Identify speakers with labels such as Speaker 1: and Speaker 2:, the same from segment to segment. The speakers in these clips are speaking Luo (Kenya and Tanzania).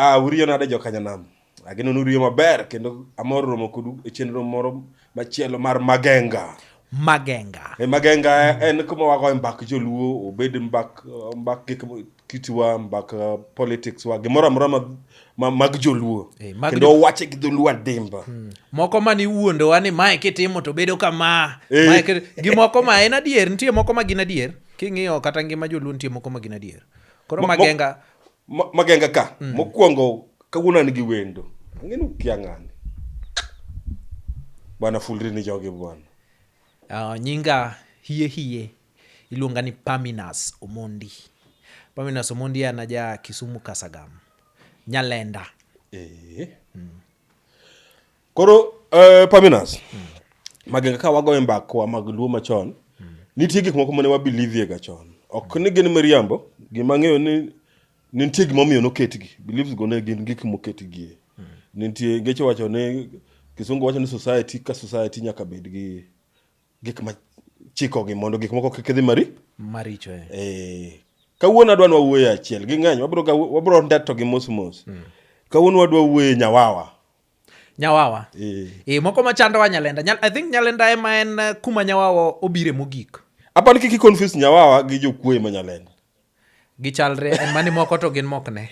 Speaker 1: Ah, uriyo nade jokanyanam? Ageno ni uriyo maber kendo amor romo kodu e chenro moro machielo mar Magenga. Magenga. E Magenga en kuma wagoye mbak joluo, obed mbak mbak gik mo- kitwa, mbak uh, politics wa, gimoro amora ma, ma, mag joluo. Eh, mag Kendo jo- wache gi dholuo adimba. Moko ma ni
Speaker 2: wuondowa ni mae kitimo to bedo kama. Eh. Mae kit- gi moko ma en adier, nitie moko ma gin adier. King'iyo kata ngima joluo nitie moko ma gin adier. Koro Mo- mo- Magenga
Speaker 1: Magenga ka. Mm. Mokwongo kawuono an gi wendo. Ang'eni ukia ng'ani. Bwana fulri ni jogi bwana. Uh, nyinga
Speaker 2: hie hie iluonga ni Paminas Omondi. Paminas Omondi an aja Kisumu Kasagam. Nyalenda. Eh. Mm.
Speaker 1: Koro uh, Paminas, mm. magenga ka wagoyo mbakwa mag luo machon, mm. nitie gik moko mane wabilivie ga chon. Ok ni gin miriambo, gima ng'eyo ni nitie gima omiyo noketgi. Beliefs go ne gin gik moketgie. Mm. Nitie ngeche wacho ni Kisungu wacho ni society ka society nyaka bed gi gik ma chikogi mondo gik moko kik dhi mari maricho. Eh. eh. Kawuono adwa nwa wuoyo achiel gi ng'eny, wabro wabro ndeto gi mos mos. Mm. Kawuono wadwa wuoyo nyawawa. Nyawawa. Eh. E,
Speaker 2: moko machandowa Nyalenda. Nyal, I think Nyalenda ema en eh, kuma Nyawawa obire mogik. Apani kiki confuse
Speaker 1: Nyawawa gi jokuoye ma Nyalenda. Gichalre
Speaker 2: en mani moko to gin mok ne.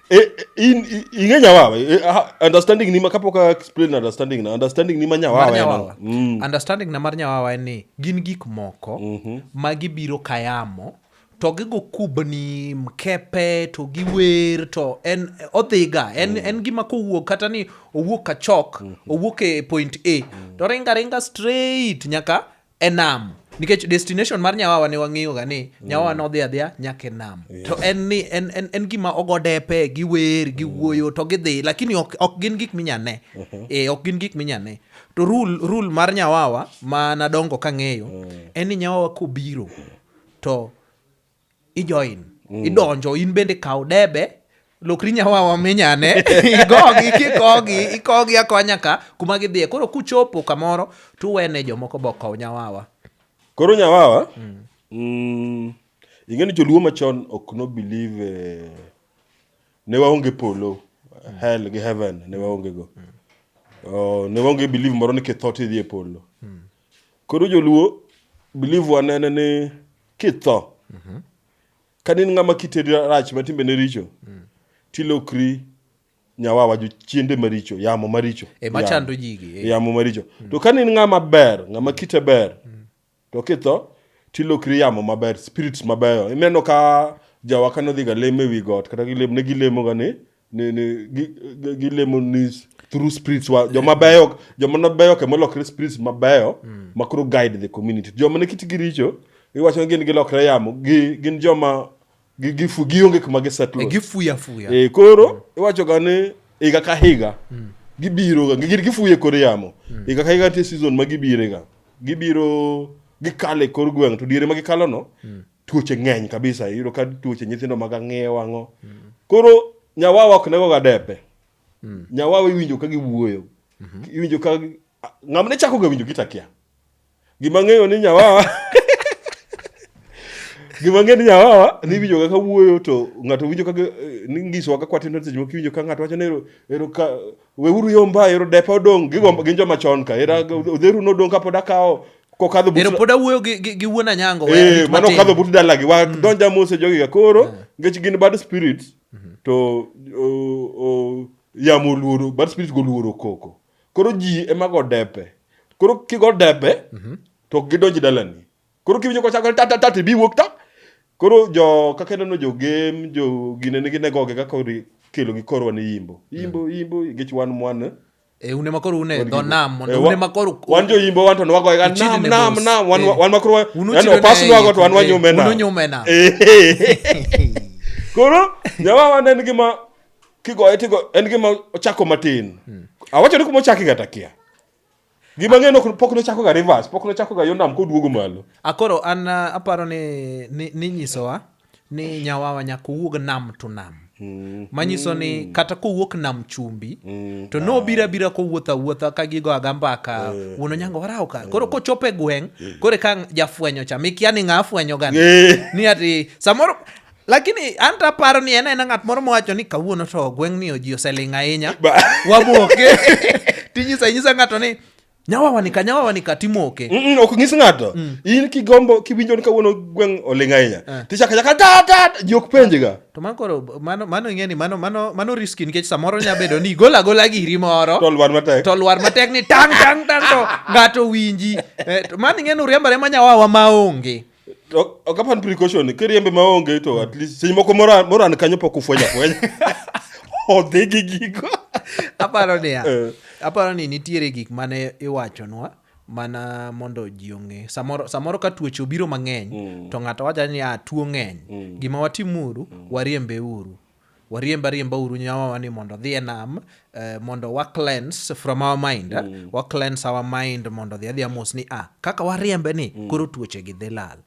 Speaker 2: E,
Speaker 1: e, in ing'e Nyawawa. E, understanding ni ma kapok explain understanding na understanding ni ma Nyawawa en. Mm. Understanding na
Speaker 2: mar Nyawawa en ni gin gik moko mm -hmm. ma gibiro kayamo to gigo kubni mkepe to giwer to en odhiga en, mm. en gima kowuok kata ni owuok kachok mm -hmm. owuok e point a mm -hmm. to ringa ringa straight nyaka enam nikech destination mar nyawawa ne wang'eyo ga ni mm. nyawawa mm. nodhi adhiya nyaka enam yeah. to en ni en, en, en gima ogodepe giwer giwuoyo mm. to gidhi lakini ok, ok gin gik minyane mm -hmm. e, eh, ok gin gik minyane to rule, rule mar nyawawa ma nadongo kang'eyo mm. en ni nyawawa kobiro mm to ijoin mm. idonjo in bende kaw debe lokri nyawawa minyane igogi kikogi ikogi akonya ka kuma gidhiye koro kuchopo kamoro tuwene jomoko bokow nyawawa koro nyawawa
Speaker 1: mm. mm, ing'e ni joluo machon ok no believe eh, ne waonge polo mm. hell gi heaven ne waonge go mm. oh, ne waonge believe moro ni kitho tidhi e polo mm. Koro joluo believe wanene ni kitho kane in ng'ama kitedi rach ma timbe ne richo tilokri nyawawa jo chiende maricho yamo maricho E, machando Yamo. jigi,
Speaker 2: e. yamo maricho to
Speaker 1: kane in ng'ama ber ng'ama kite ber to kitho tilokri yamo maber spirits mabeyo ineno ka jawa kane odhi ga lemo ewi got kata gilemo ne gilemoga ni ni, ni, gi, gi, gilemo ni through spirits wa joma beyo joma nobeyo ke molokre spirits mabeyo mm. ma koro guide the community joma ne kitgi richo iwacho ni gin gilokre yamo gi, gin joma gifu gionge kuma gisetlo eh, gifuya fuya e,
Speaker 2: koro mm.
Speaker 1: iwachoga ni higa ka higa mm. gibiroga gin gifuye kor yamo mm. higa ka higa nitie season ma gibirega gibiro gikale kor gweng' to diere ma gikalono mm. tuoche ng'eny kabisa iyudo ka tuoche nyithindo mag ang'eyo wang'o koro nyawawa ok nego ga depe mm. nyawawa iwinjo ka giwuoyo mm -hmm. iwinjo ka ng'amne chako ga winjo gitakia gima ng'eyo ni nyawawa gima ng'eyo ni nyawawa ni iwinjo ga ka wuoyo to ng'ato winjo ka ni ngisowa ka kwatindo seche moko iwinjo ka ng'ato wacho ni ero ka weuru yomba ero depa odong' gigo mm. gin joma chon ka era mm. odheru nodong' kapod akawo kokadho but pod awuoyo
Speaker 2: gi wuon anyango eh mano kadho but
Speaker 1: dalagi wa mm. donja mose jogi ga koro eh. ngech gin bad spirit mm-hmm. to yamo luoro bad spirit go luoro koko koro ji ema go depe koro kigo depe mm-hmm. to gidonji dalani koro kiwinjo kochakore ta ta ta tibi wuok ta koro jo kaka ineno jo game jo gine nigi negoge kaka ori- kelo gi korwa ni yimbo yimbo yimbo gech wan mwan e une makoro
Speaker 2: une Wan dho gi- nam mondo Eh, wa- une makoro wan jo yimbo wan to
Speaker 1: nwagoye ga Ichidi nam ne nam boss. nam wan Eh. wan makoro wa- Unu yani chido opas ne nwago to wan eh, wanyume unu nam nyume nam. Eh. koro nyawawa ne en gima kigoye tigo en gima ochako matin awacho ni kuma ochaki kata kia Gima ng'e nok- pok nochako ga reverse, pok nochako ga yo nam koduogo malo. Akoro an ah,
Speaker 2: aparo ni ni- ninyisowa ni nyawawa nyaka owuog nam to nam manyiso ni kata kowuok nam chumbi to nobira bira kowuotho awuotha ka gigo aga mbaka wuon onyango warawo ka koro kochopo e gweng' koro ka jafwenyo cha mikia ni ng'a afwenyo gani Eh. ni ati samoro Lakini an to aparo ni en aena ng'at moro mowacho ni kawuono to gweng'ni oji oseling' ahinya. Wamoke. Tinyisa inyisa ng'ato ni nyawawa nika nyawawa nika timoke. Mm, mm, ok ng'is ng'ato.
Speaker 1: Mm. In kigombo kiwinjo ni kawuono gweng' oling' ahinya. Eh. Tichaka chaka da da ji ok penjga. To man koro
Speaker 2: mano mano ing'e ni mano mano mano riski nikech samoro nya bedo ni igol agola giri moro. To lwar matek. To lwar matek ni tang tang tang to ng'ato winji. Eh, to man ing'e ni uriambare ma nyawawa maonge. Ok- ok apand
Speaker 1: precaution kiriembe maonge to at least seche moko moran moran kanyo pok ufweny afwenya odhi gi gigo aparo niya Eh.
Speaker 2: aparo ni nitiere gik mane iwachonwa mana mondo ji ong'e samoro, samoro ka tuoche obiro mang'eny mm. to ng'ato wacha ni a tuo ng'eny mm. gima watimuru mm. wariembeuru wariemb ariemba uru nyawawa ni mondo odhi e nam eh, mondo wa cleanse from our mind eh, mm. wa cleanse our mind mondo odhi adhi amos ni ah, kaka wariembe ni mm. koro tuoche gi dhi lal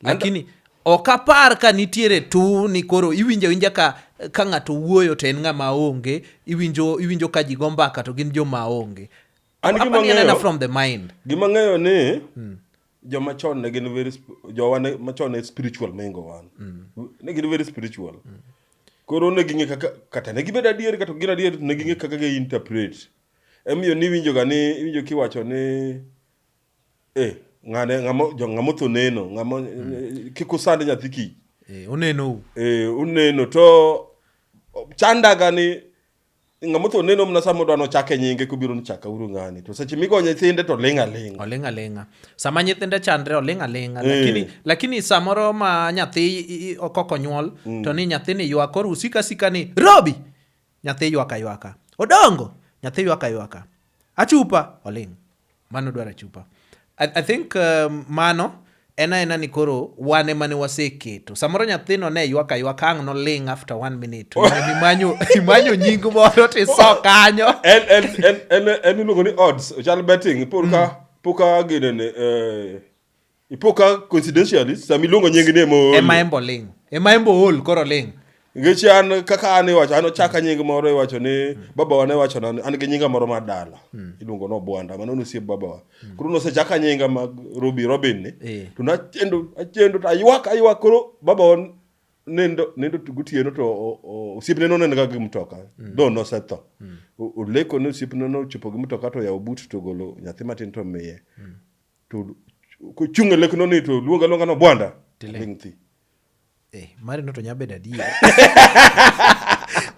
Speaker 2: lakini And, ok apar ka nitiere tu ni koro iwinjo awinja ka ka ng'ato wuoyo to en ng'ama onge iwinjo iwinjo ka ji go mbaka to gin joma onge an gima ng'eyo from the mind gima ng'eyo ni
Speaker 1: mm. joma chon ne gin very jowa ne machon ne spiritual mengo wan mm. ne gin very spiritual mm. koro ne ging'e kaka kata ne gibedo adier kata gin adier ne ging'e kaka gi interpret emiyo ni winjo ga ni winjo kiwacho ni eh ng'ane ng'amo jo ng'amo tho neno ng'amo mm. eh, kiko sand nyathi ki eh oneno eh oneno to chandaga ni ng'ama otho neno mana sama odwa nochake nyinge kobiro nichaka uru ng'ani to seche migo nyithinde to ling' aling' oling' alinga sama nyithinde
Speaker 2: chandre oling' alinga Eh. lakini, lakini samoro ma nyathi i- i- koko nyuol Mm. to ni nyathini ywak koro usika sika ni robi nyathi ywaka ywaka odongo nyathi ywaka ywaka Achupa oling'. Mano dwaro achupa. I, I think um, mano en aena ni koro wan ema ne waseketo samoro nyathino ne ywak aywak ang' noling after one minute imanyo, imanyo nying moro tiso kanyo
Speaker 1: en iluongo ni odds ochal betting poka mm. poka ginene eh, ipo ka coincidentally sama iluongo nying ni ema ool. ema embo ling ema embo
Speaker 2: ool koro ling nikech an
Speaker 1: kaka an iwacho an ochaka nying moro iwacho ni babawa ne wacho na an gi nyinga moro mar dala iluongo ni obwanda mano ne osiep babawa koro nosechaka nyinga mag robi robin ni Eh. to nachendo achendo to aywak aywak koro babawa nindo nindo to gotieno to o- o- osiepne noneno ga gi mtoka do nosetho O- oleko ni osiepne nochopo gi mtoka to yawo but to ogolo nyathi matin to miye to kochung' e lekno ni to luonga luonga no bwanda tiling' thi eh,
Speaker 2: marino to nya bedo adier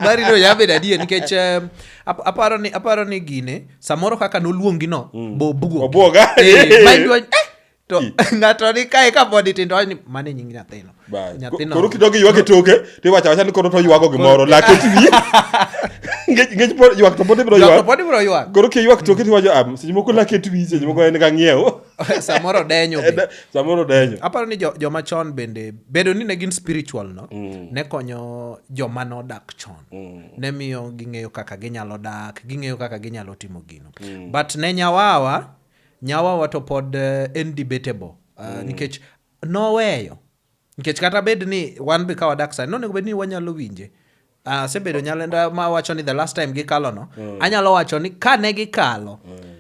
Speaker 2: marino nya bedo adier nikech um, aparo ni aparo ni gine samoro kaka noluongi no mm. bobuo obwoga
Speaker 1: eh, eh,
Speaker 2: to ng'ato ni kae ka body tindo ni mane nying nyathino Bye. Nyathino- Koro kidogo
Speaker 1: ywak e toke, to iwacho awacha ni koro to ywago gimoro, lak otwi. Ngech- ngech pod- ywak to pod ibiro Ywak to ywak. pod ibiro ywak Koro kiywak toke to iwacho, "Ah, seche moko lak otwi, seche moko en ga ng'iewo." samoro denyo
Speaker 2: be. Samoro denyo. aparo ni jo- joma chon bende bedo ni ne gin spiritual no ne konyo joma nodak chon ne miyo ging'eyo kaka ginyalo dak ging'eyo kaka ginyalo timo gino but ne nyawawa nyawawa to pod eh, en debatable uh, nikech noweyo nikech kata bed ni wan be ka wadak sani nonego bed ni wanyalo winje asebedo ah, uh, nyalenda ma wacho ni the last time gikalo no mm. anyalo wacho ni ka ne gikalo mm.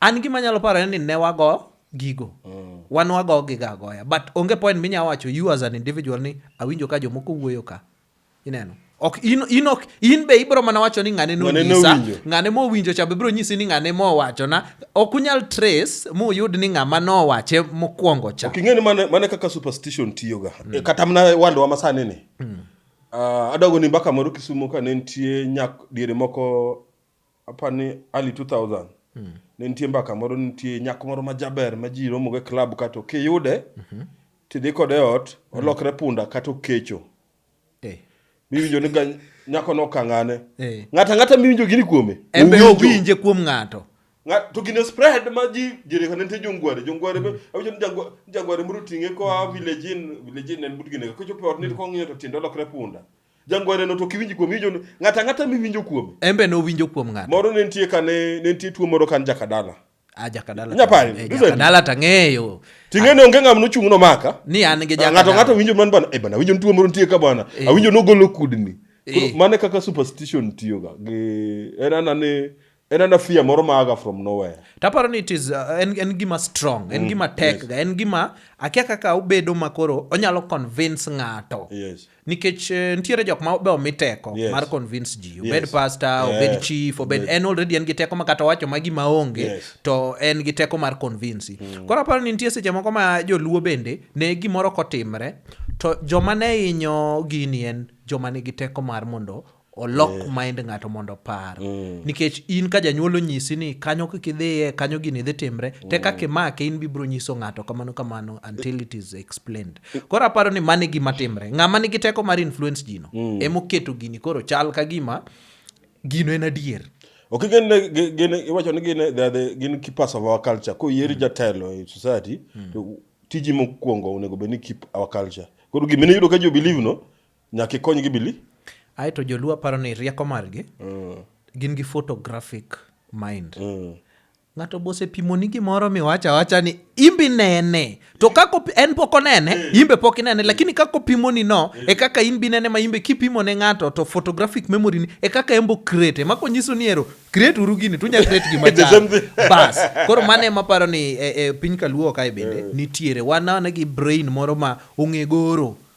Speaker 2: an gima anyalo paro ni ne wago gigo mm. wan wago giga agoya but onge point minya wacho you as an individual ni awinjo ka jomoko wuoyo ka ineno ok in, in, ok, in be ibiro mana wacho ni ng'ane nonyisa ng'ane mowinjo cha bibiro nyisi ni ng'ane mowachona ok unyal trace muyud ni ng'ama nowache mokwongo cha okay, ng'eni mane, mane kaka
Speaker 1: superstition tiyoga mm. Eh, kata mana wandowa masani ni mm. uh, ah, adogo ni mbaka moro kisumo ka ne nitie nyak diere moko Apa ni early 2000 mm. ne nitie mbaka moro nitie nyako moro majaber ma ji romogo e klab ka to kiyude mm -hmm. tidhi kode ot mm. olokre punda kata okecho hey. Eh. miwinjo ni nyako no kang'ane hey. Eh. ng'ata ng'ata miwinjo gini kuome embe owinje
Speaker 2: kuom ng'ato to gine
Speaker 1: spread ma ji jirikane nitie jongware jongware mm. awinjo ni jangware moro ting'e koa village in village in en but gine kochopo ot ni mm. kong'iyo to tiende olokre punda mm. Jangwareno to ok iwinj kuome, iwinjo ni ng'ato ang'ata miwinjo kuome. En be nowinjo kuom
Speaker 2: ng'ato. Moro ne nitie ka ne
Speaker 1: ne nitie tuo moro kan jakadala. Ah, jakadala. Inya pari, Eh, listen. jakadala
Speaker 2: tang'eyo. Ting'e ni onge ng'ama
Speaker 1: nochung' nomaka. Ni an gi jakadala. Ng'ato
Speaker 2: ng'ato
Speaker 1: winjo man bana, eh bana,
Speaker 2: winjo
Speaker 1: ni tuo moro nitie ka bana. Eh. Awinjo nogolo
Speaker 2: kudni.
Speaker 1: Koro Eh. mano e kaka superstition tiyoga gi en ana ni En ana fear moro maaga from nowhere. Taparo ni it is uh,
Speaker 2: en, en gima strong, en mm, gima tek yes. ga, en gima akia kaka obedo makoro onyalo convince ng'ato. Yes. Nikech uh,
Speaker 1: nitiere
Speaker 2: jok ma be omi teko yes. mar convince ji. Obed yes. pastor, yeah. obed chief, obed yes. en already en gi teko ma kata wacho ma gima onge yes. to en gi teko mar convince. Mm. Koro aparo ni nitie seche moko ma joluo bende ne gimoro kotimre to joma ne inyo gini en joma nigi teko mar mondo olok yeah. mind ng'ato mondo opar mm. nikech in ka janyuol onyisi ni kanyo kik idhiye kanyo gini dhi timre mm. te kaka imake in bibiro nyiso ng'ato kamano kamano until it is explained koro aparo ni mani gima timre ng'ama nigi teko mar influence jino mm. emoketo gini koro chal ka gima gino en adier ok gin
Speaker 1: gin iwacho ni gin the gin keep us of our culture ko yieri mm. jatelo e society mm. to tiji mokwongo onego bed ni keep our culture koro gimene yudo ka jo believe no Nyaka ikonygi bili. Ae to joluo
Speaker 2: paro ni rieko margi mm. gin gi photographic mind. Mm. Ng'ato bose pimoni gimoro miwacho awacha ni imbi nene to kako en pok onene mm. imbe pok inene lakini kako pimoni no mm. e kaka in bi nene ma imbe kipimo ne ng'ato to photographic memory ni e kaka embo create ema konyiso ni ero create uru gini tunya create gima chal bas koro mane ema paro ni e, e piny kaluo kae bende mm. nitiere wana ne gi brain moro ma ong'e goro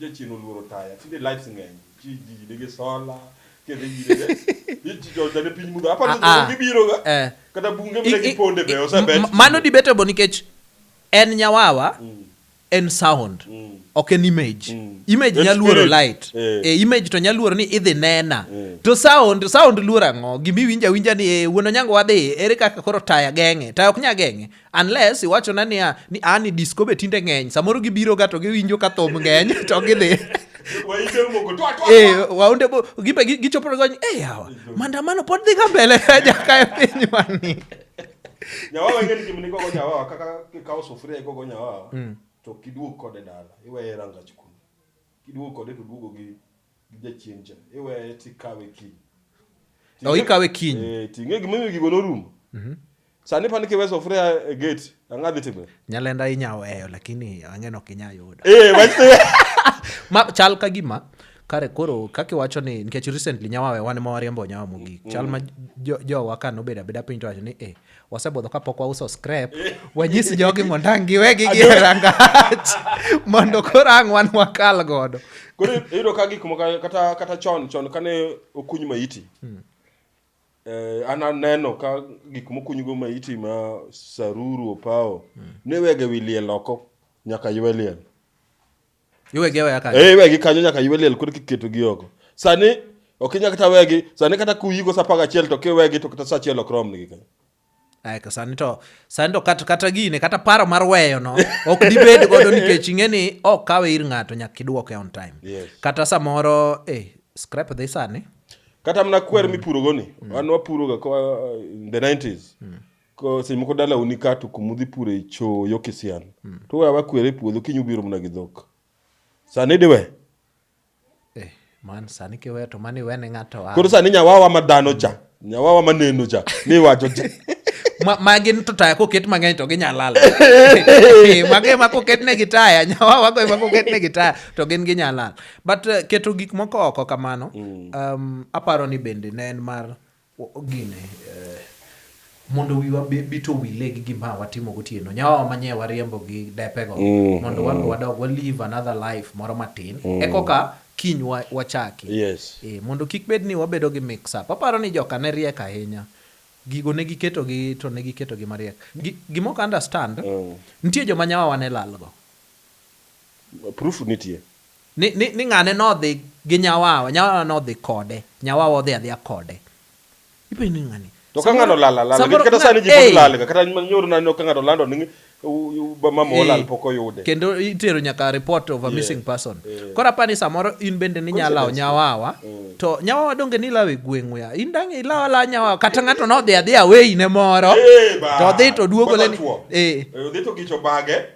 Speaker 1: Jachien oluoro taya tinde lights ng'eny ji ji nigi sola kendo ji nigi ji jonja ne piny mudho aparo Ah, ah. ni gibiro ga Eh. kata bunge I- mine i- giponde be i- osebet m- mano debatable nikech
Speaker 2: en nyawawa en sound ok en image Mm. image En nyaluoro spirit. light Eh. e image to nyaluoro ni idhi nena Eh. to sound sound luoro ang'o gima iwinjo awinja ni eh, wuon onyango wadhi ere kaka koro taya geng'e taya ok nya geng'e unless iwachona niya ni a ni disco be tinde ng'eny samoro gibiroga to giwinjo ka thum ng'eny to gidhi Eh, waunde bo gipe gi- gichopo to gony e yawa mandamano pod dhi ka mbele jaka e pinywani
Speaker 1: nyawawa ing'e ni gimni gogo nyawawa kaka kikawo sufuria igogo nyawawa to kiduog kode dala iweye e rangach kuno kiduog kode to duogo gi gi jachien cha iweye tikawe kiny oh, ikawe
Speaker 2: kiny e, ting'e gimomiyo gigo
Speaker 1: norumo mm -hmm. sani pani kiwe sufuria e gate ang'a dhi timre nyalenda inya weyo
Speaker 2: lakini ang'eno ok inya yudo eh, ma chal ka gima kare koro kaka iwacho ni nikech recently nyawawe wan ma wariembo nyawa mogik chal ma mm. jowa ka nobedo abeda piny to wacho ni eh, wasebudho kapok wauso scrap wanyis jogi mondo ang' giwegi gi e rangach mondo koro ang' wan wakal godo koro iyudo ka
Speaker 1: gik moko kata kata chon chon kane okuny maiti hmm. eh, an aneno ka gik mokunygo maiti ma saruru opawo hmm. ne wege wi liel oko nyaka ywe liel iwegi aweya kanyo Eh, iwegi kanyo nyaka ywe liel koro kiketogi oko sani ok inya kata wegi sani kata kuyiko sa apar gachiel to kiwegi to kata sa achiel ok romnigi kanyo Ay, ka sani
Speaker 2: to sani to kata, kata gine kata paro mar weyo no ok dibed godo nikech ing'e ni ok kawe ir ng'ato nyaka idwoke on time Yes. kata samoro eh, scrap dhi sani kata mana kwer
Speaker 1: mipurogoni wan wapuroga koa in the 90s Ko- seche moko dalau ni ka to kumudhi pure e cho yo kisian to wewa wakwere e puodho kiny ubiro mna gi dhok sani diwe Eh,
Speaker 2: man sani kiweyo to mani wene ng'ato a- koro sani nyawawa ma
Speaker 1: dhano cha nyawawa ma neno cha miwacho cha
Speaker 2: Ma- magi to taya koket mang'eny to ginyalal magi ma koket ne gi taya nyawawa go ema koket ne gi taya to gin ginyalal but uh, keto gik moko oko kamano um, aparo ni bende ne en mar Gine, mondo wiwa bit owile gi gima watimo gotieno. Nyawawa ma nye wariembo gi depego mondo wan wadog wa live another life moro matin ekoka kiny wachaki. Yes. Ee, mondo kik bed ni wabedo gi mix up. Aparo ni joka ne riek ahinya. Gigo ne giketogi to ne giketogi mariek. Gima ok understand, nitie joma nyawawa ne lalgo.
Speaker 1: Proof nitie. Ni, ni, ni ng'ane
Speaker 2: nodhi gi nyawawa, nyawawa nodhi kode, nyawawa odhi adhiya kode. Ipenjo ni ng'ani. To ka
Speaker 1: ng'ano lala lala, samoro kata sani ji pod lalga, kata nyoro naneno ka ng'ato lando ni mama olal pok oyude. Kendo itero nyaka
Speaker 2: report of a missing person. Koro apani samoro in bende ni nyalawo nyawawa, mm. to nyawawa donge ni lawe gweng'u ya, in dang' ilawo alawa nyawawa, kata ng'ato nodhi adhiya weyine moro, to odhi to duogo leni. Eh. eh. Odhi to
Speaker 1: gicho bage.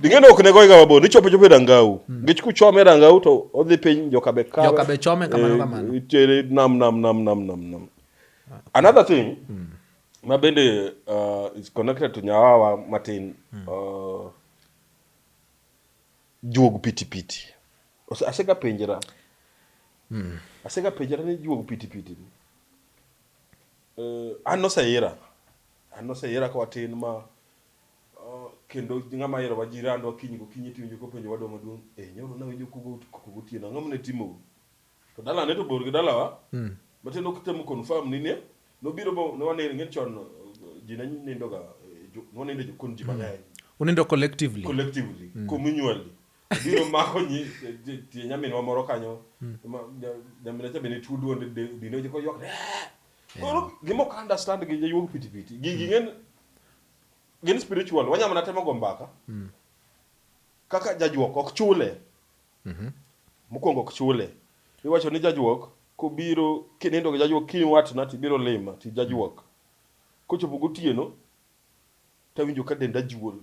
Speaker 2: Ding'eno ok ne goye
Speaker 1: ga mabor, nichopo chopo e Rangau. Hmm. Nikech kuchome e Rangau to odhi piny joka be kawe. Joka be chome kamano eh,
Speaker 2: kamano. Itere nam nam
Speaker 1: nam nam nam nam. Another thing hmm. ma bende uh, is connected to Nyawawa matin hmm. uh, juog pitipiti. Asega penjera. Asega penjera ni juog pitipiti. Uh, an noseira. An noseira kwa tin ma Kendo ng'ama herowa ji randwa kiny gokinyi tiwinjo kopenjowa dwa maduong', eh nyoro nawinjo kugo koko gotieno ang'o mane timou? To dalane to bor gi dalawa matiende ok tem confirm ni ne nobiro bo ne wanind ing'e ni chon ji ne nindoga ne wanindo e jokon ji mang'eny. Unindo collectively.
Speaker 2: Collectively, communally.
Speaker 1: Obiro omako nyi tie nyaminwa moro kanyo ma nyaminwa cha be ne tuo duonde dende oywak ni eeh! Koro gima ok a understand gi jayuog piti piti gigi ing'e ni gin spiritual wanya mana temo go mbaka mm. kaka jajuok ok chule mm -hmm. mokwongo ok chule iwacho ni jajuok kobiro kinindo gi jajuok kiny watna tibiro lima ti jajuok kochopo gotieno tawinjo ka denda juol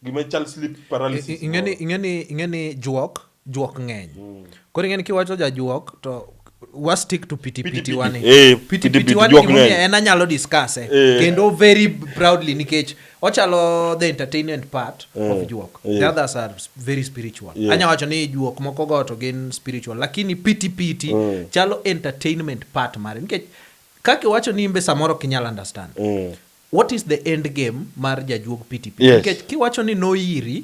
Speaker 1: Gima ichal sleep I- paralysis. i- ing'eni moro. ing'eni ing'eni
Speaker 2: juok juok ng'eny koro ing'eni kiwacho jajuok to wa stick to piti piti Piti-piti. wani Eh, piti piti piti-piti, wani juok gimomiyo ng'eny. en anyalo discuss eh. Eh. kendo very proudly nikech ochalo the entertainment part of Eh, juok eh. the others are s- very spiritual Yes. anya wacho ni juok moko go to gin spiritual lakini piti piti Mm. chalo entertainment part mare nikech kaka iwacho ni imbe samoro ok inyal understand Mm. What is the end game mar jajuog PTP? Yes. Nikech kiwacho ni noiri,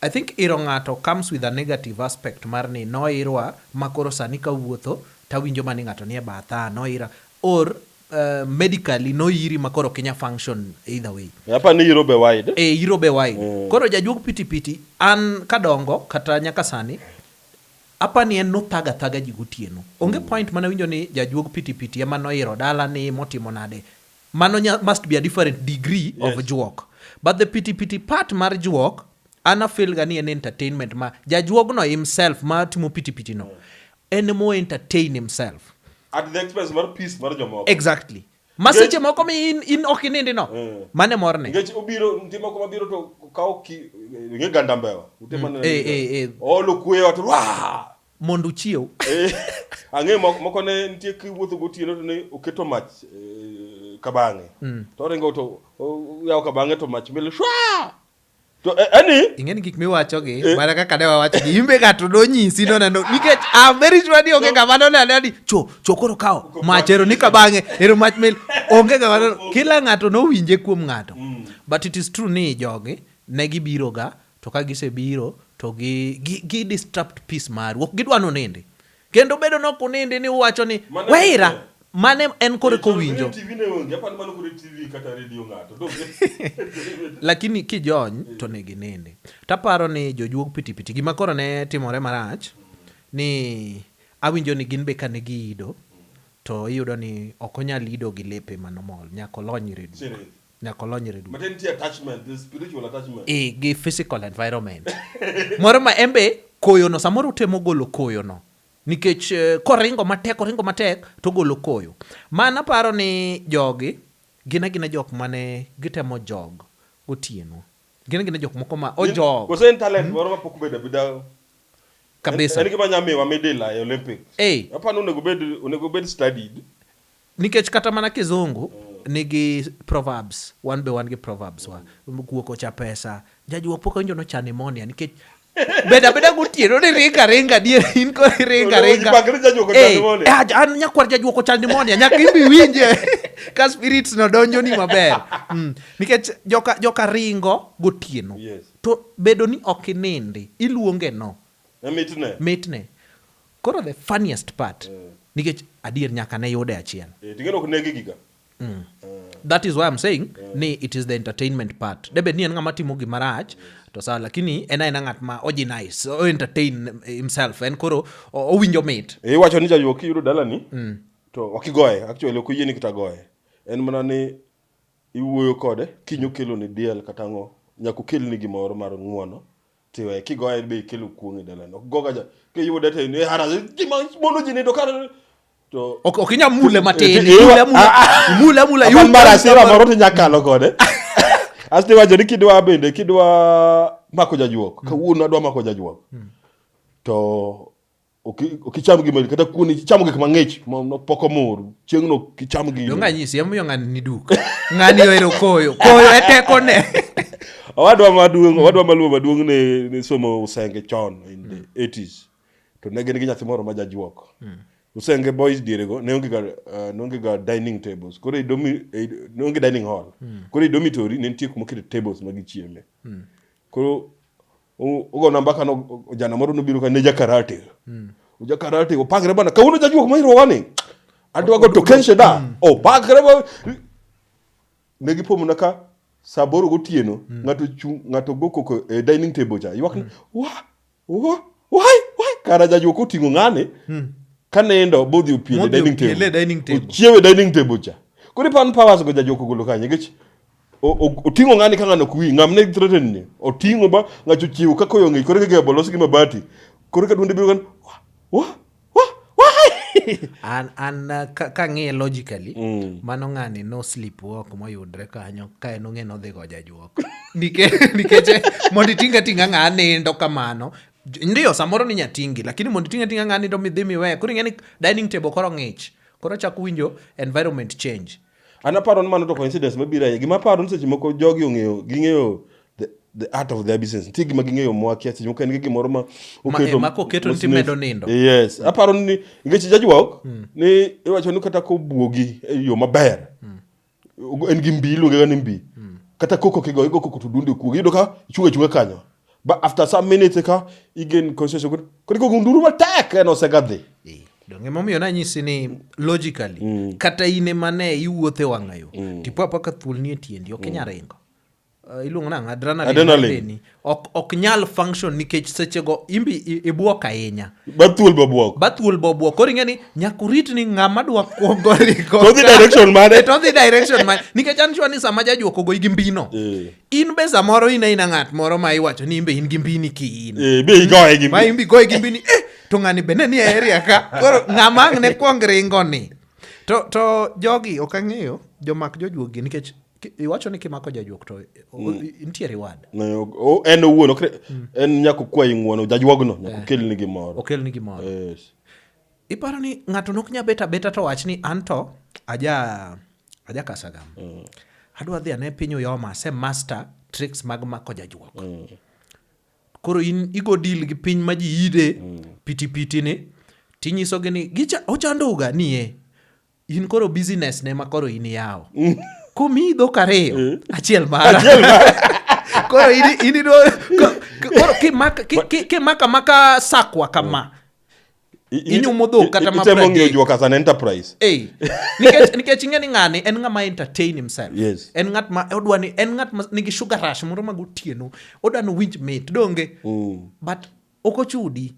Speaker 2: I think iro ng'ato comes with a negative aspect mar ni noirwa ma koro sani kawuotho tawinjo ma ni ng'ato nie batha, noira or eh, medically noiri ma koro ok inya function either way. Apa ni iro be
Speaker 1: wide. E iro be wide.
Speaker 2: Koro jajuog pitipiti an kadongo kata nyaka sani apa ni en nothaga thaga ji gotieno. Onge point mana winjo ni jajuog pitipiti ema noiro dala ni motimo nade. Mano nya, must be a different degree yes. of juok. But the pity pity part mar juok, ana feel ga ni en entertainment ma jajuogno himself ma timo pity pity no. En mo entertain himself. At the expense
Speaker 1: mar peace mar jomoko. Exactly. Maseche
Speaker 2: moko mi in, in ok inindi no. Mm. Mane morne. Ngech obiro ndimo
Speaker 1: kuma biro to kawo ki nge ganda mbewa. Utema mm. ne. Eh eh eh. Olo kuyo to wa. mondo
Speaker 2: uchiew. Eh, ang'e
Speaker 1: moko ne nitie kiwuotho gotieno to ne oketo mach eh, kabang'e mm. to oringo to yawo kabang'e to mach mil shwa to eh, ani ing'e ni gik
Speaker 2: miwacho gi mana kaka ne wawacho gi imbe ga to nonyisi no neno nikech a very sure ni onge kama no neno ni cho cho koro kawo mach ero ni kabang'e ero mach mil onge kama no kila ng'ato nowinje kuom ng'ato mm. but it is true ni jogi ne gibiro ga To ka gisebiro to gi gi disrupt peace maru. Ok gidwa ni unindi. Kendo bedo ni ok unindi ni uwacho ni weira mane en koro eka owinjo. Lakini kijony to onego inindi. To aparo ni jojuog pitipiti gima koro ne timore marach ni awinjo ni gin be kane giido to iyudo ni ok onyal ido gi lepe mano mol nyaka olony reduka. nyaka olonyre duto. Matiende nitie attachment,
Speaker 1: there's spiritual attachment. Eh, gi physical
Speaker 2: environment. Moro ma en be koyono samoro otemo golo koyono nikech eh, koringo matek oringo matek to golo koyo. Man aparo ni jogi gin agina jok mane gitemo jog gotieno. Gin agina jok moko ma ojog Koso en talent moro ma
Speaker 1: pok obedo abeda. En- kabisa.
Speaker 2: En gima nya miwa
Speaker 1: midila e Olympics. Eh. Apani onego bed onego bed studied. Nikech
Speaker 2: kata mana kizungu nigi proverbs, wan be wan gi proverbs wa. Guok ocha pesa, jajuok pok awinjo nocha pneumonia nikech beda beda gotieno ni ringa ringa dier in ko ringa ringa. Eh,
Speaker 1: eh, an nyakwar jajuok
Speaker 2: ocha pneumonia nyaka ibi winje ka spirits no donjo ni maber. Mm. Nikech joka joka ringo gotieno. Yes. To
Speaker 1: bedo ni
Speaker 2: ok inindi, iluonge no. Mitne. Mitne. Koro the funniest part nikech adier nyaka ne yude achiel. Eh, ting'eni ok negi giga. That is why I'm saying ni it is the entertainment part. De bed ni en ng'ama timo gima rach to sawa lakini en aena ng'at ma oji nice, o entertain himself. En koro o- owinjo mit. Eh, iwacho ni jajuok kiyudo
Speaker 1: dalani to ok igoye actually ok oyieni kata goye en mana ni iwuoyo kode kiny okeloni diel kata ang'o nyaka okelni gimoro mar ng'uono Tiwe kigoye be ikelo kuong' e dalani. Ok goga ja. Kiyude to in hara gima mondo ji nindo kar to Ok ok inya mule
Speaker 2: matin. Eh, eh, Mule mule. ah, ah. Mule mule. Apan mar
Speaker 1: asira moro to nyakalo kode. Asti wacho ni kidwa bende kidwa mako jajuok. Kawuono adwa mako jajuok. To ok icham gima kata kuon ichamo gik mang'ich pok omor chieng' no ok icham gino donga nyisi emomiyo ng'ani ni
Speaker 2: duk ng'ani ohero koyo koyo e teko ne owadwa
Speaker 1: maduong' owadwa maluo maduong' ne ne somo usenge chon in the 80s mm. to ne gin gi nyathi moro ma jajuok mm. usenge boys diere go ne onge ga uh, ne onge ga dining tables koro idomi e, ne onge dining hall mm. koro idomi tori ne nitie kuma kete tables ma gichieme koro ogona mbaka no jana moro nobiro ka ne jakarate mm. jakarate opangre bana kawuono jajuok mairowani adwago to kenshe da mm. opangre oh, ne gipomona ka saa boro gotieno mm. ng'ato chung' ng'ato go koko e dining table cha ywak ni mm. wa wa wai wai kara jajuok oting'o ng'ane mm. ka nindo bodhi opiele dining table ochiewe dining table cha koro ipan powers go jajuok ogolo kanye nikech oting'o ng'ani ka ng'ano kuwi ng'am ne threaten ni oting'o ba ng'acho chiwo ka koyo ng'e kore ka gebo los gi mabati kore ka duonde biro kan wa wa wa
Speaker 2: an an uh, ka, ka ng'iye logically mm. mano ng'ani no sleep walk moyudre kanyo ka en ong'e nodhi go jajuok nikech nikech eh, mondo itinga tinga ng'a nindo kamano ndio samoro ni nyatingi lakini mondo itinga tinga ng'a nindo midhi miwe koro ing'e ni dining table koro ng'ich koro chako winjo environment change An aparo ni mano to
Speaker 1: coincidence mabiro ahinya. Gima aparo ni seche moko jogi ong'eyo, ging'eyo the, the art of their business. Nitie gima ging'eyo mwakia, seche moko en gi gimoro ma oketo. Ma koketo ni
Speaker 2: timedo nindo. Yes. Mm. Aparo ni,
Speaker 1: nikech jajwok, mm. ni iwacho ni kata kobuogi e yo maber, mm. en gi mbi, iluonge ga ni mbi. Mm. Kata koko kigo, igo koko to dundi okuogi. Iyudo ka ichunga chunga kanyo. ba after some minutes eka igen conscious good kodi ko gunduru matek en osegadhi eh, donge momiyo
Speaker 2: nanyisi ni logically mm. kata ine mane iwuothe wang'ayo mm. tipo apaka thuol nie tiendi ok inya mm. ringo uh, iluongo nang adrenalin ok, ok nyal function nikech sechego imbi ibwok ahinya bathuol bobwok
Speaker 1: bathuol bobwok koro ing'e ni nyaka
Speaker 2: urit ni ng'ama dwa kuongo ringo todhi direction mane
Speaker 1: todhi direction
Speaker 2: mane nikech an sure ni sama jajuokogo igi mbino eh. in be samoro in aina ng'at moro ma iwacho ni in be in gi mbini ki in Eh, be igoye gi ma
Speaker 1: in be igoye gi mbini
Speaker 2: eh, to ng'ani be ne ni e area ka koro ng'ama ang' ne kwong ringo ni to, to jogi ok ang'eyo jomak jojuogi nikech ki- iwacho ni kimako jajuok to o- nitie reward Ne, o- o- en owuon
Speaker 1: ok re- en nyako kwayi ng'uono jajuogno nyako kelni gimoro okelni gimoro Yes. iparo
Speaker 2: ni ng'ato nok nya beta beta to wach ni an to aja Ajakasagam. Mm. Adwa dhi ane piny Uyoma, ase master tricks mag mako jajuok. Mm. Koro in igo deal gi piny ma ji ide mm. piti piti ni tinyisogi ni gicha ochandoga niye. In koro business ne ma koro in yawo. Mm. Komi dhok ariyo, mm. achiel mara. Achiel mara. koro in in koro kimaka maka sakwa kama. Mm. inyumo dhok kata ma itemo ng'iyo jua kasa na
Speaker 1: enterprise eh nikech
Speaker 2: nikech ing'e ni ng'ani en ng'ama entertain himself yes. en ng'at ma
Speaker 1: odwa ni
Speaker 2: en ng'at ma nigi sugar rush moro mag otieno odwa ni winj mit donge mm. but ok ochudi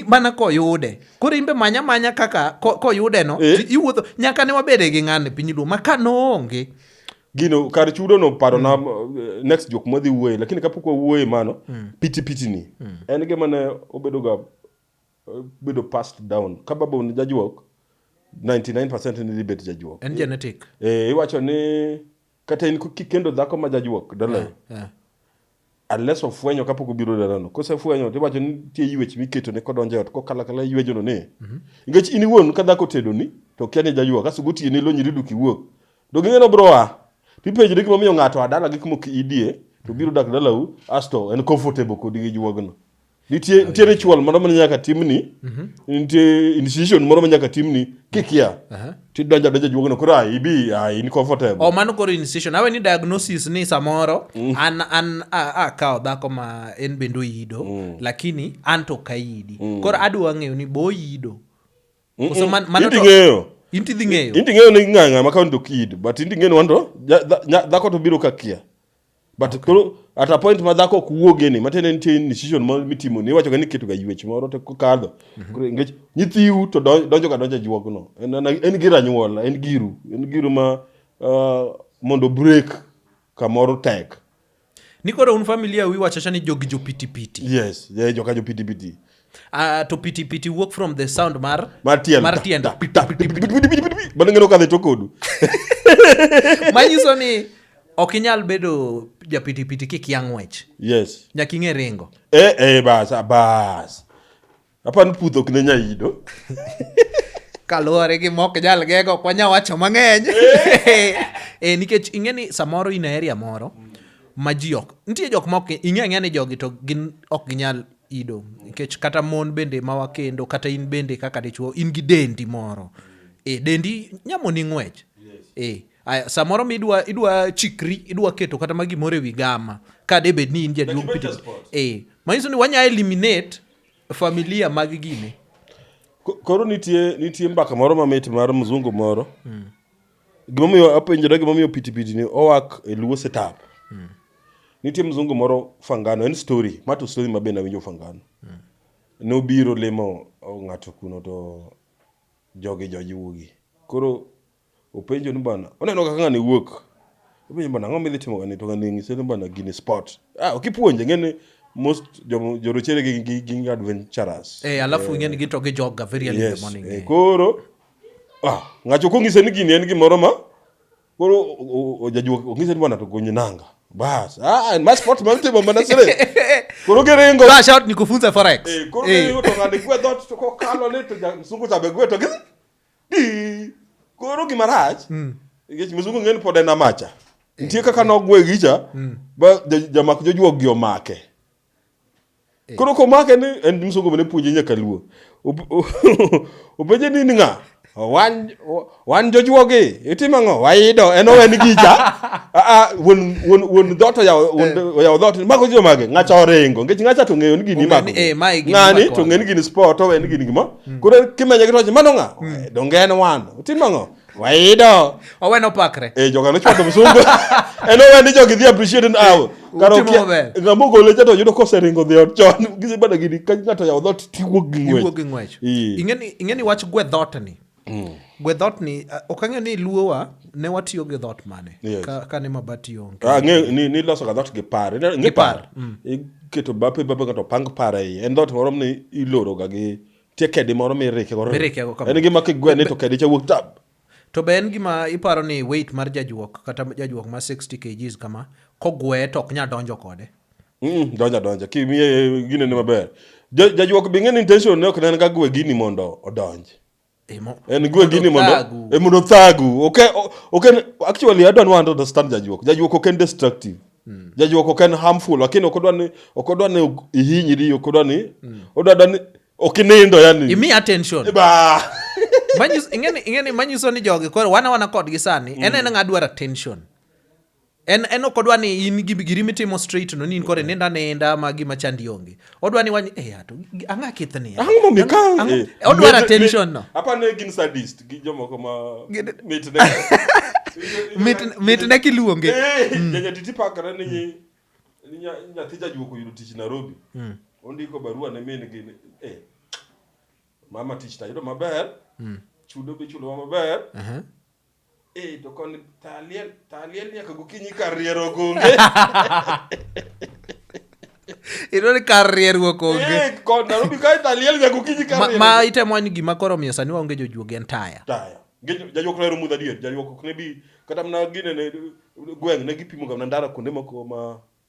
Speaker 2: mana koyude koro imbe manya manya kaka koyude no eh? iwuotho nyaka ne wabede gi ng'ani piny luo ma ka noonge gino kar
Speaker 1: chudo no paro na mm. eh, next jok madhi wuoye lakini kapok wawuoye mano mm. piti piti ni mm. en gima ne obedo ga eh, bedo passed down ka baba ni jajuok 99% ni libet jajuok en genetic
Speaker 2: eh iwacho ni
Speaker 1: kata in kikendo dhako ma jajuok dole yeah, yeah. Unless ofwenyo kapok obiro dalano. Kosefwenyo to iwacho ni nitie yuech miketone kodonjo e ot kokalo akala yuejono ni. Mhm. Nikech in iwuon ka dhako otedoni to okia ni jayua kasto gotieno ilonyri duk iwuog. To ging'e ni obiro a. To ipenjri gima omiyo ng'ato a dalagi kuma ok idie to biro dak dalau asto en comfortable kodi gi juogno. Nitie nitie ritual moro ma nyaka timni. Mhm. Nitie initiation moro ma nyaka timni kikia. Aha. Ti donja donja juogno koro ai ibi ai ni comfortable. o Oh, mano koro incision awe
Speaker 2: ni diagnosis ni samoro Mm. an an a- akawo dhako ma en bende oyido Mm. lakini an to ok ayidi koro adwa ng'eyo ni bo oyido Koso man- mano Inti to- ng'eyo. inti dhi ng'eyo Inti ng'eyo ni ng'ang'a ma kaunti ok
Speaker 1: yid but inti ng'eyo ni wanto dhako to biro kakia. but okay. koro at a point ma dhako ok wuoge ni matiende nitie incision moro mitimo ni iwachoga ni iketoga yuech moro to kokadho mhm. nikech nyithiu to donjoga donjo e juogno en gir anyuola en giru en giru ma uh, mondo break kamoro tek ni koro
Speaker 2: un familia wi wachacha ni jogi jopitipiti yes yeah, joka
Speaker 1: jopitipiti Uh, to piti
Speaker 2: piti work from the sound mar mar tielo mar tiendo
Speaker 1: bana ngeno kadhe to kodu manyiso
Speaker 2: ni ok inyal bedo japitipiti kikia ng'wech yes nyaka ing'e
Speaker 1: ringo
Speaker 2: eh eh bas ah,
Speaker 1: bas apani puth ok ne nyaido
Speaker 2: kaluwore gi mok jal gego ok wanya wacho mang'eny e, nikech ing'e ni samoro in aeria moro ma ji ok nitie jok ma ok ing'e ang'e ni jogi to gin ok ginyal Ido. Nikech kata mon bende ma wakendo, kata in bende kaka dichuo, in gi dendi moro. E, dendi nyamoni ng'wech. E, aya, samoro mi idwa, idwa chikri, idwa keto kata ma gimoro e wi gama, ka de bed ni in jaduong' piti. E, manyiso ni wanya eliminate familia mag gini. Koro
Speaker 1: nitie, nitie mbaka moro mamit mar mzungu moro. Mm. Gimomiyo apenjora gimomiyo pitipiti ni owak e luo setup. Mm. Nitie mzungu moro Fangano, en story, ma to story ma bende awinjo Fangano. Mm. Nobiro limo ng'ato kuno to jogi jojuogi. Koro openjo ni bana, oneno kaka ng'ani wuok. Openjo bana, ang'o midhi timo gani? To ng'ani ng'ise ni bana gini sport. Ah, ok ipuonje, ng'eni most jorochere gi, gi, gi adventurers. Eh, alafu eh, ng'eni gito
Speaker 2: gi joga very early yes, in the morning. Eh, eh. koro
Speaker 1: Ah, ng'acho kong'ise ni gini en gimoro ma koro ojajuok ong'ise ni bwana to gony nanga. Bas. Ah, ma sport ma timo mana sere. Koro geringo. Flash out ni kufunza forex.
Speaker 2: Eh, koro eh. geringo to ng'ade
Speaker 1: gwe dot to kokalo ni to msungu tabe gwe to gidhi. Di. Koro gima rach. Mm. Ngech msungu ng'en pod en amacha. Eh. Nitie kaka nogwe gicha. Mm. Ba jamak jojuok gi omake. Eh. Koro komake ni en msongo ne puonje nyaka luo. Openje ni ng'a? Wan wan jojuogi itimo ang'o? Waido en owen gicha. A ah, ah, won won won dot ya won eh. ya dot mago jo mage ng'acha orengo ngech ng'acha to ng'eyo ni gini mago. Eh, Ng'ani to ng'eni gini sport owen gini gimo. Hmm. Koro kimenye gi toche mano ng'a? Hmm. Donge en wan. Itimo ang'o? waido owe nopakre
Speaker 2: eh joga nochwado msungu
Speaker 1: en owe ni jogi dhi appreciate now karo Utimo maber. kia ngamo gole cha to yudo koseringo dhi ot chon gise bada gidi ka ngato yawo dhot tiwuok gi iwuo ng'wech gi ng'wech Ii. Ing'eni- ing'eni
Speaker 2: wach gwe dhot ni gwe dhot ni ah, ok ang'eyo ni luowa ne watiyo gi dhot mane Yes. ka, ka ne mabati onge Ah, ng'e- ni ni loso ga dhot gi
Speaker 1: par Ine- ng'e Gi par, par iketo bape bape ngato pang par ei en dhot moro ni iloro ga gi Tie kedi moro mirikego. Mirikego kama. En gima kigwene to kedi cha wuok tab. To be en gima
Speaker 2: iparo ni weight mar jajuok kata jajuok ma 60 kgs kama kogwe to ok nya donjo kode. Mm, donja donja
Speaker 1: kimiye gine ne maber. Jajuok be ng'en intention ne ok nen ga gwe gini mondo odonj. En gwe gini mondo e mondo thagu. Okay, okay actually I don't want to understand jajuok. Jajuok ok en destructive. Mm. Jajuok ok en harmful lakini ok odwa ni ok odwa ni ihinyri ok odwa ni mm. odwa dwa ni ok inindo yani. Imi attention. Ba.
Speaker 2: Manyis ingeni ingeni manyiso ni jogi koro wana wana kodgi sani mm. en en ngadwar attention. En en ok odwa ni in gi giri mitimo straight no ni in kore nenda nenda ma gima chandi onge. odwa ni wany e eh, ato ang'a kith ni ang'o momiyo ka eh, odwa attention no apa ne gin sadist
Speaker 1: gi jomoko ma mit ne
Speaker 2: mit mit ne kiluonge eh, hmm. janya titi
Speaker 1: pakara ni ni nyathi jajuoko yudo tich Nairobi hmm. ondiko barua ne min gi eh mama tich tayudo maber hmm. chudo be chulo maber uh-huh. Eh, to koni taliel, taliel nyaka gokinyi kar riero gonge.
Speaker 2: iyudo ni kar rieruok onge Eh, kon Nairobi kae
Speaker 1: taliel nyaka gokinyi kar Ma- riero. ma itemo wani gima
Speaker 2: koro omiyo sani waonge jojuogi en taya Taya. Gejo jajuok
Speaker 1: noero mudha dier. Jajuok ok ne bi kata mana gine ne gweng' ne gipimo ga mana ndara kuonde moko ma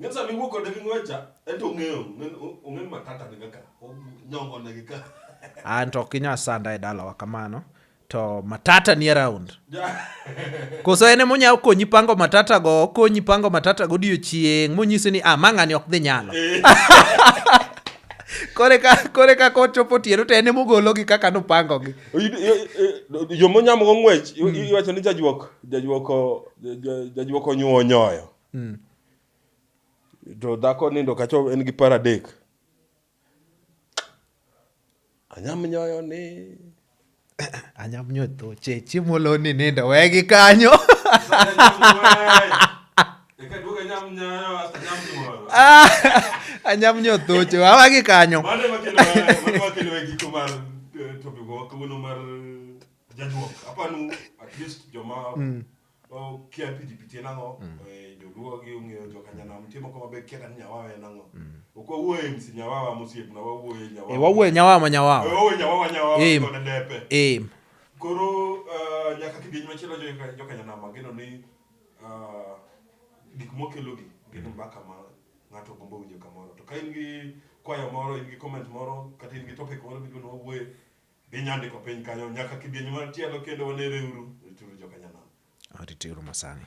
Speaker 1: Ng'e sama iwuok kode gi ng'wecha, ento ong'eyo, ong'e ni matata ni kaka nyongo na gi ka. An to ok inya
Speaker 2: sanda e dalawa kamano. To matata ni around. Koso en ema onyalo konyi pango matata go, okonyi pango matata go odiochieng' monyisi ni ah ma ng'ani ok dhi nyalo. Eh. kore ka kore ka kochopo tiero to en ema ogologi kaka nopangogi
Speaker 1: yo monyamo go ng'wech iwacho ni jajwok jajwok jajwok onyuo onyoyo Mm. To dhako nindo kacho en gi para dek. Anyam nyoyo ni.
Speaker 2: Anyam nyoyo to che chiemo lo ni nindo we gi kanyo. Anyam nyoyo to che wa gi kanyo. Mane makelo mane makelo
Speaker 1: e giko mar eh, topic wa kawuono mar jajuok. Apanu at least joma mm. Okia piti piti en ang'o? Mm. Eh, Joluo gi ong'eyo joka nyanam nitie moko mabe kia kata ni nyawawa en ang'o. Mm. Ok wawuo e MC nyawawa mosiepna wawuo e nyawawa. Eh, wawuo e nyawawa ma nyawawa.
Speaker 2: Eh, wawuo e nyawawa nyawawa
Speaker 1: Em. koda depe. Eh, Koro eh, nyaka kidieny machielo joka joka nyanam ageno ni eh, gik mokelogi gin mbaka ma ng'ato gombo winjo kamoro. To ka in gi kwayo moro, in gi comment moro, kata in gi topic moro midwa ni wawuoye, Dhi nyandiko piny kanyo nyaka kidieny mar tielo kendo wanereuru.
Speaker 2: Rituru
Speaker 1: joka nyanam. Rituru
Speaker 2: masani.